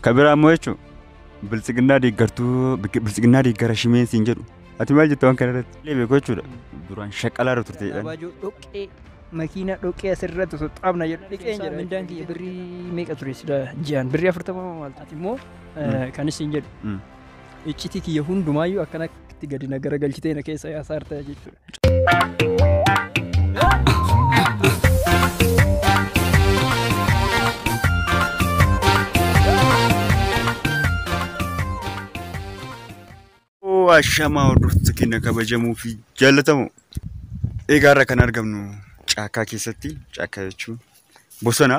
Ka biraa immoo jechuun biltsiginnaa deeggartuu biltsiginnaa deeggara shimeen siin jedhu ati maal jetta waan kana irratti illee beeku jechuudha duraan shaqqalaa irra turte jedhan. Abaajoo dhoqqee makiinaa dhoqqee asirratti osoo xaabna jedhu dhiqeen jedha. Mindaan kiyya birrii meeqa ture sila ji'aan birrii afurtama maal ati immoo kan isin jedhu iccitii kiyya hundumaayyuu akkanatti gadi na garagalchitee na keessa yaasaarta jechuudha. Ashamaa hordoftoota keenya kabajamoo fi jaallatamoo. Egaa irra kan argamnu caakkaa keessatti, caakkaa jechuun bosona.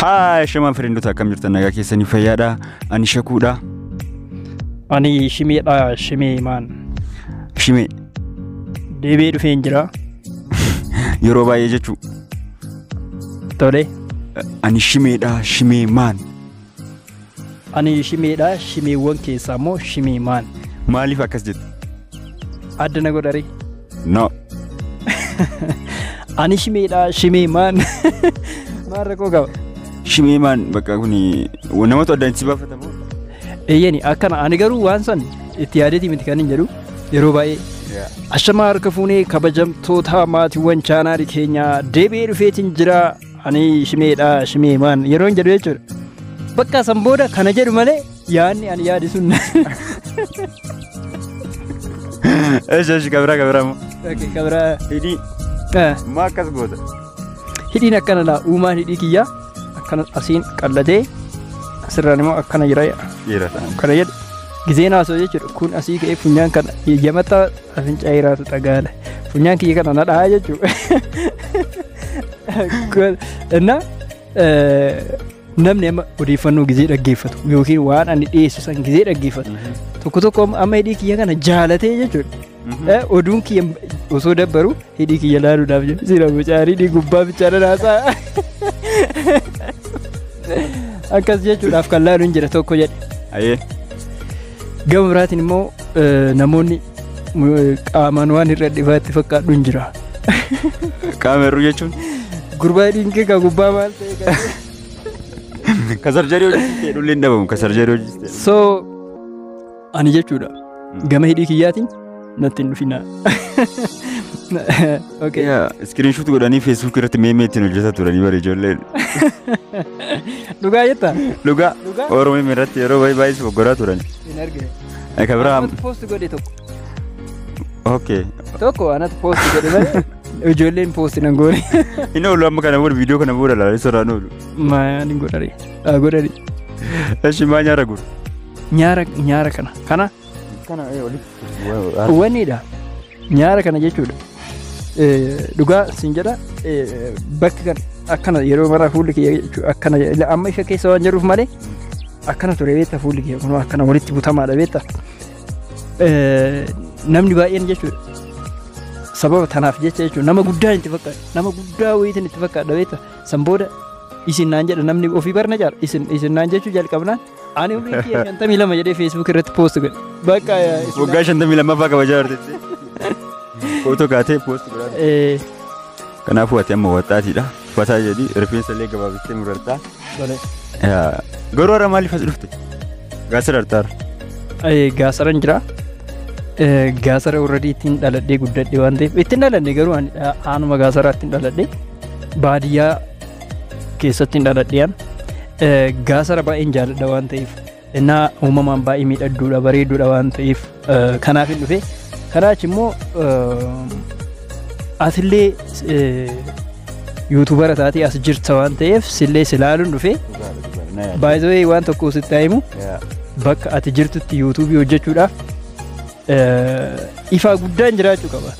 Haa shamaa firiindota akkam jirtan nagaa keessanii fayyaadha. Ani shakuudha. Ani shimeedha shimee maan. Shimee. Deebi'ee dhufeen jira. Yeroo baay'ee jechuu. Tole. Ani shimeedha shimee maan. Ani shimeedha shimeewwan keessaa immoo shimee maan. Maaliif akkas jette? Adda na godharii. No. Ani shimeedha shimee maan. Maal rakkoo qaba? Shimee maan bakka kun namatu addaan si baafatamu. Eeyyeni akkana ani garuu waan san itti yaadeeti miti kan hin jedhu yeroo baay'ee. Ashamaa harka fuunee kabajamtoota maatiiwwan chaanaali keenyaa deebi'ee dhufeetiin jira ani shimeedha shimee maan yeroo hin jedhu jechuudha. Bakka san booda kana jedhu malee yaadni ani yaade sun. Eesh eesh kabiraa kabiraa moo. Okay, kabira. Hidhii Eh, maa akkas goota. Hidhiin akkana laa uumaan hidhii kiyyaa akkana asiin qallatee asirraan immoo akkana jira Dhiira ta'an. kana jedhu. Gizeen haasoo jechuudha kun asii ka'ee funyaan kana yamata Afincaa hiraatu xagaala. Funyaan kiyya kana na dhahaa jechuudha. Innaa namni amma odeeffannoo gizee dhaggeeffatu yookiin waan ani dhiyeessu san gizee dhaggeeffatu tokko tokko amma hidhii kiyya kana jaalatee jechuudha. Oduun kiyya osoo dabbaru hidhii kiyya laaluudhaaf jedhu siira bocaarii hidhii gubbaa bichaa dhanaasaa. Akkas jechuudhaaf kan laalu hin jira tokko jedhe. Ayee. Gama biraatiin immoo namoonni qaamaan waan irra dhibaa itti fakkaadhu hin jira. Qaama hir'uu jechuun. Gurbaa dhiinkee kan gubbaa maal ta'e kan. Ka sarjarii hojjiste dhulli hin dhabamu ka sarjarii hojjiste. So ani jechuudha gama hidhii kiyyaatiin natti hin dhufinaa. Okay. Iskiriinshuuti godhanii feesbuukii irratti meemee ittiin hojjetaa turanii bara ijoolleen. Dhugaa jettaa? Dhugaa Dhugaa? Oromoo irratti yeroo baay'ee baay'ee boggoraa turan. Hin argine. Eka biraa Anatu post godhe tokko. okay. Tokko anatu post godhe malee ijoolleen post nan goone. Hin oolu amma kana booda viidiyoo kana booda ilaalee soraan oolu. Maayaan hin godhani. Haa godhani. Eshi maa nyaara guru. Nyaara nyaara kana. Kana Kana ee walitti. Waniidha. Nyaara kana jechuudha. Eh, Dhugaa siin jedha eh, bakki kan akkana yeroo maraa fuulli kiyya jechuudha akkana jedha. amma ishee keessa waan jiruuf malee akkana ture beekta fuulli kiyya kun akkana walitti butamaadha beekta. Eh, Namni baay'een jechuudha sababa tanaaf jecha jechuudha nama guddaa itti fakkaata nama guddaa wayiitiin itti fakkaata beekta san booda isin naan jedha namni ofii barna jaala isin isin naan jechuu jalqabnaan Ani umriin kiyya shantamii lama jedhee Facebook irratti post godhe. Bakka Waggaa shantamii lammaffaa kabajaa jirti. Footoo kaatee poost godhaa. Eh, Kanaafuu ati amma waxaatiidha. Fataa jedhi rifeensa illee gabaabistee murartaa. tole. Yaa, Garuu har'a maaliif as dhufte? Gaasira hartaara. Eh, Gaasaran jira. Eh, Gaasara already ittiin dhaladhee guddadhe waan ta'eef ittiin dhaladhe garuu ani dha- aanuma gaasaraa ittiin dhaladhe baadiyyaa keessatti hin dhaladhiyan gaasara baay'een jaalladha waan ta'eef innaa uumamaan baay'ee miidhagduudha bareeduudha waan ta'eef kanaaf hin dhufe kanaa achi immoo atillee yuutuubara taatee as jirta waan ta'eef sillee silaaluun dhufe baay'ee waan tokko sitti himu bakka ati jirtutti yuutuubii hojjechuudhaaf ifaa guddaan jiraachuu qaba.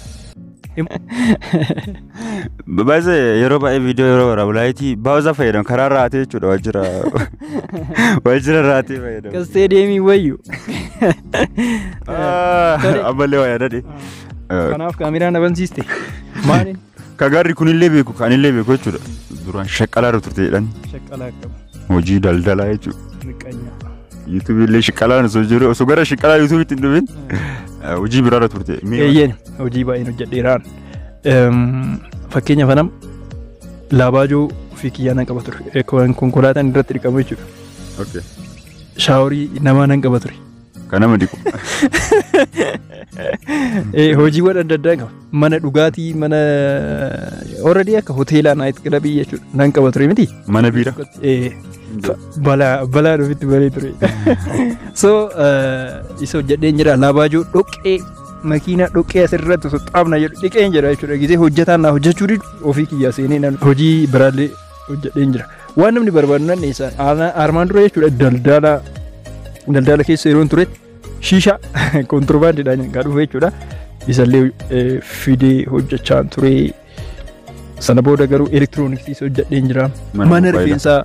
Baay'ee yeroo baay'ee viidiyoo yeroo waraabu laayitii baay'ee fayyadamu karaa raatee jechuudha waajjira waajjira raatee fayyadamu. Kan isteediyeemii wayyu. Ammallee waa yaadadhe. Kanaaf kaameraa na bansiiste. Maaliin? Ka gaarri kunillee beeku kanillee beeku jechuudha. Duraan shaqqalaa irra turte jedhan Shaqqalaa qabu. hojii daldalaa jechuudha. Miqqanyaa. Yuutuubii illee shiqalaan osoo jiru osoo gara shiqalaa yuutuubiitti hin dhufin eh, hojii biraarra turte. Mee Eeyyeen hojii baay'een hojjedheeraan. Eem, Fakkeenya fanam laabaajoo fi kiyyaa nan qaba ture. Eh, kon- Konkolaataan irratti dhiqamu jechuudha. okay. Shaaworii namaa nan qaba ture. kan nama dhiqu. Eh, Hojiiwwan adda addaa qaba. mana dhugaatii mana already akka hoteelaa naayit kilabii jechuudha nan qaba ture miti. Mana biira. Eh, fa- balaa balaa ofitti baree ture. so eh, isa hojjedheen jira laabaajoo dhoqqee makiinaa dhoqqee asirratti osoo xaabna jedhu dhiqeen jira jechuudha gisee hojjetaan naa hojjechuu didu ofii kiyyaa seenee nan hojii biraallee hojjedheen jira waan namni barbaadu nan dhiyeessan armaan dura jechuudha daldala daldala keessa yeroon turetti Shiisha kontirbaandiidhaan kan dhufe jechuudha. Isallee eh, fidee hojjechaa ture. Sana booda garuu elektirooniksiis hojjedheen jira. Mana Mana mobaayilaa. rifeensaa.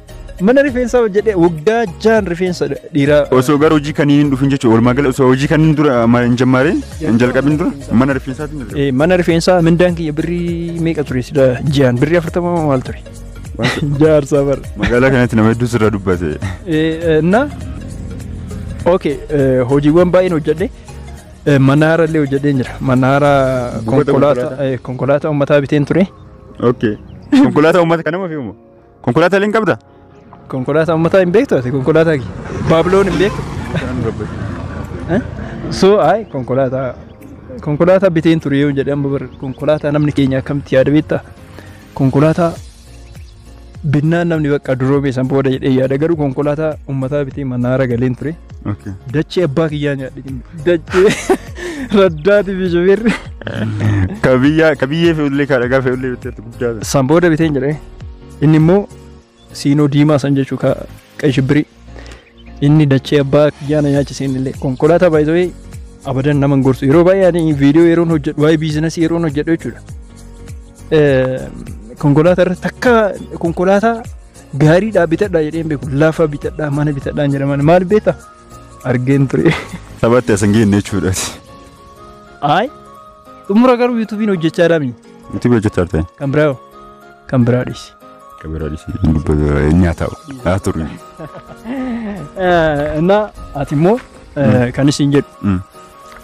Mana rifeensaa hojjedhee waggaa jaan rifeensa dhiiraa. Osoo gara hojii kaniin hin dhufin jechuudha. Walumaa gala osoo hojii kaniin dura ma- hin jammaaree hin jalqabin dura mana rifeensaatiin jalqabe. Eh, Mana rifeensaa mindaan kiyya birrii meeqa ture sila ji'aan birrii afurtama maal ture. Jaarsaa bar. Magaalaa kanatti nama hedduu sirra dubbate. Na ok hojiiwwan baay'een hojjedhe manaara illee hojjedheen jira manaara konkolaataa konkolaataa uummataa biteen ture. Ok. Konkolaataa uummata kan nama fe'umoo? Konkolaataa illee hin qabda? Konkolaataa uummataa hin beektu ati konkolaataa kee baabiloon hin beektu. So ayi konkolaataa konkolaataa biteen ture yoo jedhe amma bar konkolaataa namni keenya akkamitti yaada beektaa? Konkolaataa binnaan namni bakka duroomee san booda jedhee yaada garuu konkolaataa ummataa bitee manaara galeen ture. Okay. Dachee abbaa kiyyaa nyaadhe. Dachee raddaati fi shubirri. Ka biyyaa ka biyyee fe'ullee ka dhagaa fe'ullee bitteetti guddaadha. San booda biteen jedhee inni immoo Siinoo diimaa san jechuu ka qashibbirii. Inni dachee abbaa kiyyaa na nyaachise inni illee konkolaataa baay'ee abadan nama hin gorsu. Yeroo baay'ee ani viidiyoo yeroon hojjedhu waa'ee biizinasii yeroon hojjedhu jechuudha. Eh, Konkolaataa irratti takka konkolaataa gaariidhaa bitadhaa jedheen beeku lafa bitadhaa mana bitadhaa hin jedhaman maal beekta argeen ture. Taphatti as hin geenne jechuudha. Ayi xumura garuu yuutuubiin hojjechaa dhaabni Nuti hojjechaa turte. kan biraa Kan biraa dhiisi. Kan biraa dhiisi. Inni haa taa'u. Haa turu. Innaa ati immoo kan isin jedhu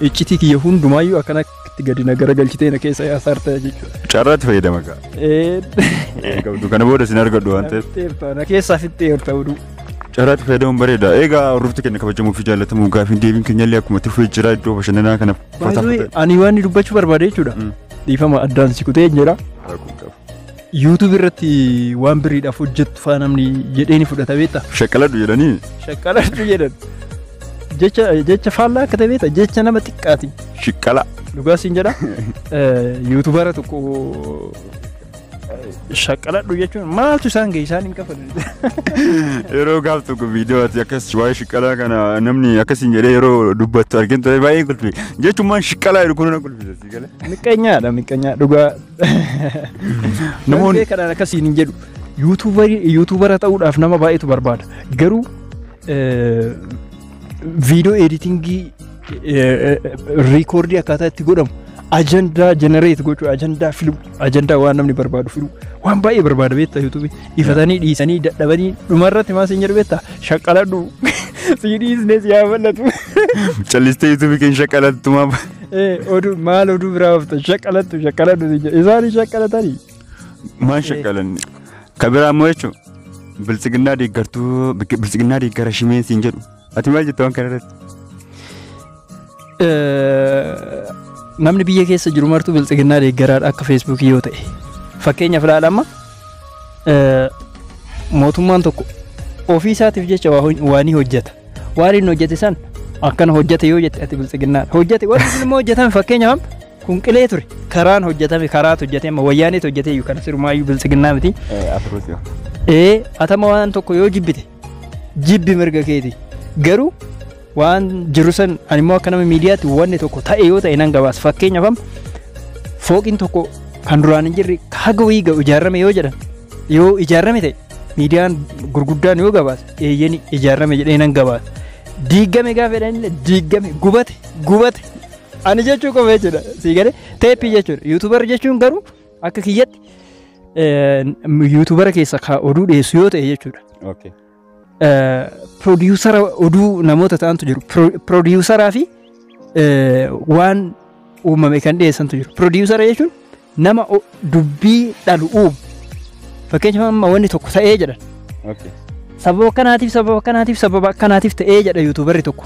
iccitii kiyya hundumaayyuu akkana itti gadi na garagalchitee na keessa hasaarta jechuudha. Carraatti fayyadama gaa. Qabdu kana booda isin argadhu waan ta'eef. Na keessaa fixxee yoo ta'u duu. Carraatti fayyadamuun bareeda. Egaa hordoftoota keenya kabajamuu fi jaallatamuuf gaafiin deebiin keenyallee akkuma itti fufee jira iddoo bashannanaa kana. Baay'ee ani waan dubbachuu barbaade jechuudha. Dhiifama addaan si kutee jira. Rakkoo hin qabu. YouTube irratti waan biriidhaaf hojjettu faa namni jedhee ni fudhata beekta. Shaqqaladhu jedhanii Shaqqaladhu jedhan. Jecha jecha faallaa akka ta'e beekta jecha nama xiqqaati. shiqqala. Dhugaa siin jedha. Yuutubaara tokko shaqqaladhu jechuun maaltu isaan ga'e isaan hin qaban. Yeroo gaaf tokko viidiyoo ati akkas waa'ee shiqqalaa kana namni akkasiin jedhee yeroo dubbattu argin ture baay'ee kolfi. Jechumaan shiqqalaa jedhu kun na kolfisiisa. Miqqeenyaadha miqqeenyaa dhugaa. Namoonni kanaan akkasiin hin jedhu. Yuutuubara ta'uudhaaf nama baay'eetu barbaada. Garuu viidiyoo editingii riikoordii akkaataa itti godhamu ajandaa jenereet gochuu ajandaa filuu ajandaa waan namni barbaadu filuu waan baay'ee barbaada beektaa yuutuubii. Ifatanii dhiisanii dadhabanii dhumarratti maal siin jedhu beektaa? Shaqqaladhu. Sii dhiisnee si haa bal'atu. Callistee yuutuubii keenya shaqqalattu maaf? Ee oduu maal oduu biraa oofta shaqqalattu shaqqaladhu siin jedhu. Isaanis shaqqalatanii. Maal shaqqalanne? Ka biraa immoo jechuun biltsiginnaa deeggartuu biltsiginnaa deeggara shimeen siin jedhu. Ati maal jetta waan kanarratti? Namni biyya keessa jiru martuu bilxiginnaa deeggaraadha akka feesbuukii yoo ta'e. Fakkeenyaaf ilaala amma mootummaan tokko ofii isaatiif jecha waan ni hojjeta. Waan inni hojjete san akkana hojjete yoo jette ati bilxiginnaa hojjete waan inni immoo hojjetame fakkeenyaaf kun qilee ture karaan hojjetame karaatu hojjete amma wayyaaneetu hojjete iyyuu kana sirumaayyuu bilxiginnaa miti. Ee atama waan tokko yoo jibbite jibbi mirga keeti garuu waan jiru san ani immoo akka nama miidiyaatti wanni tokko ta'e yoo ta'e nan gabaasa fakkeenyaaf amma fooqiin tokko kan duraan hin jirre haga wayii ga'u ijaarame yoo jedhan yoo ijaarame ta'e miidiyaan gurguddaan yoo gabaasa eeyyeni ijaarame jedhee nan gabaasa diiggame gaafa jedhan illee diiggame gubate gubate ani jechuu qofa jechuudha sii galee teeppii jechuudha yuutuubarri jechuun garuu Akka kiyyatti yuutubara keessa ka oduu dhiyeessu yoo ta'e jechuudha. Okay. Piroodyuusara oduu namoota ta'antu jiru. Piroodyuusaraa fi eh, waan uumame kan dhiyeessantu jiru. Piroodyuusara jechuun nama o- dubbii dhalu uumu. Fakkeenyaaf amma wanni tokko ta'ee jedhan. Okay. Sababa akkanaatiif sababa akkanaatiif sababa akkanaatiif ta'ee jedha yuutuubarri tokko.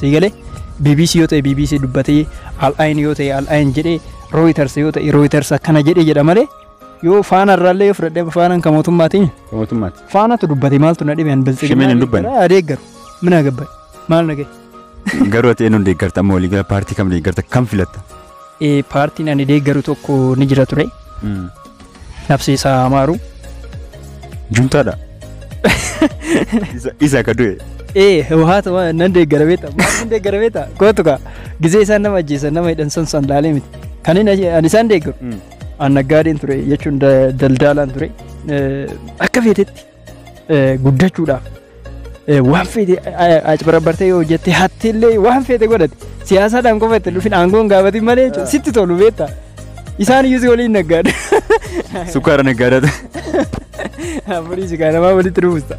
sii galee BBC yoo ta'e BBC dubbatee al'ayin yoo ta'e al'ayin jedhee Reuters yoo ta'e Reuters akkana jedhee jedha malee yoo faana irraallee yoo fudhadhee faanaan kan mootummaatiin Mootummaatti. faanatu dubbate maaltu na dhibe an Shimeen hin dubbanne. biltsiginaa adeeggaru mina gabbaye maal na gahe Garuu ati eenyuun deeggarta amma waliigala paartii kam deeggarta kam filatta? Eh, Paartiin ani deeggaru tokko ni jira ture. Nafsee isaa amaaru. Juntaadha. Isa akka du'e. Eh, hawwaata waan nan deeggara beekta. Maal nan deeggara beekta? Kootu kaa. Gizee isaan nama ajjeesan nama hidhan san san laalee miti. Kan inni ajje- ani isaan deeggaru. An naggaadeen ture jechuun da- daldaalaan ture. Eh, Akka feetetti guddachuudhaaf waan feete acbarabbartee yoo hojjette hattillee waan feete godhate siyaasaadhaan qofa itti dhufin aangoon gaafatin malee jechuudha. sitti tolu beektaa isaan iyyuu si waliin naggaadha. Sukkaara naggaadata. Afurii si gaaramaa walitti dhufusta.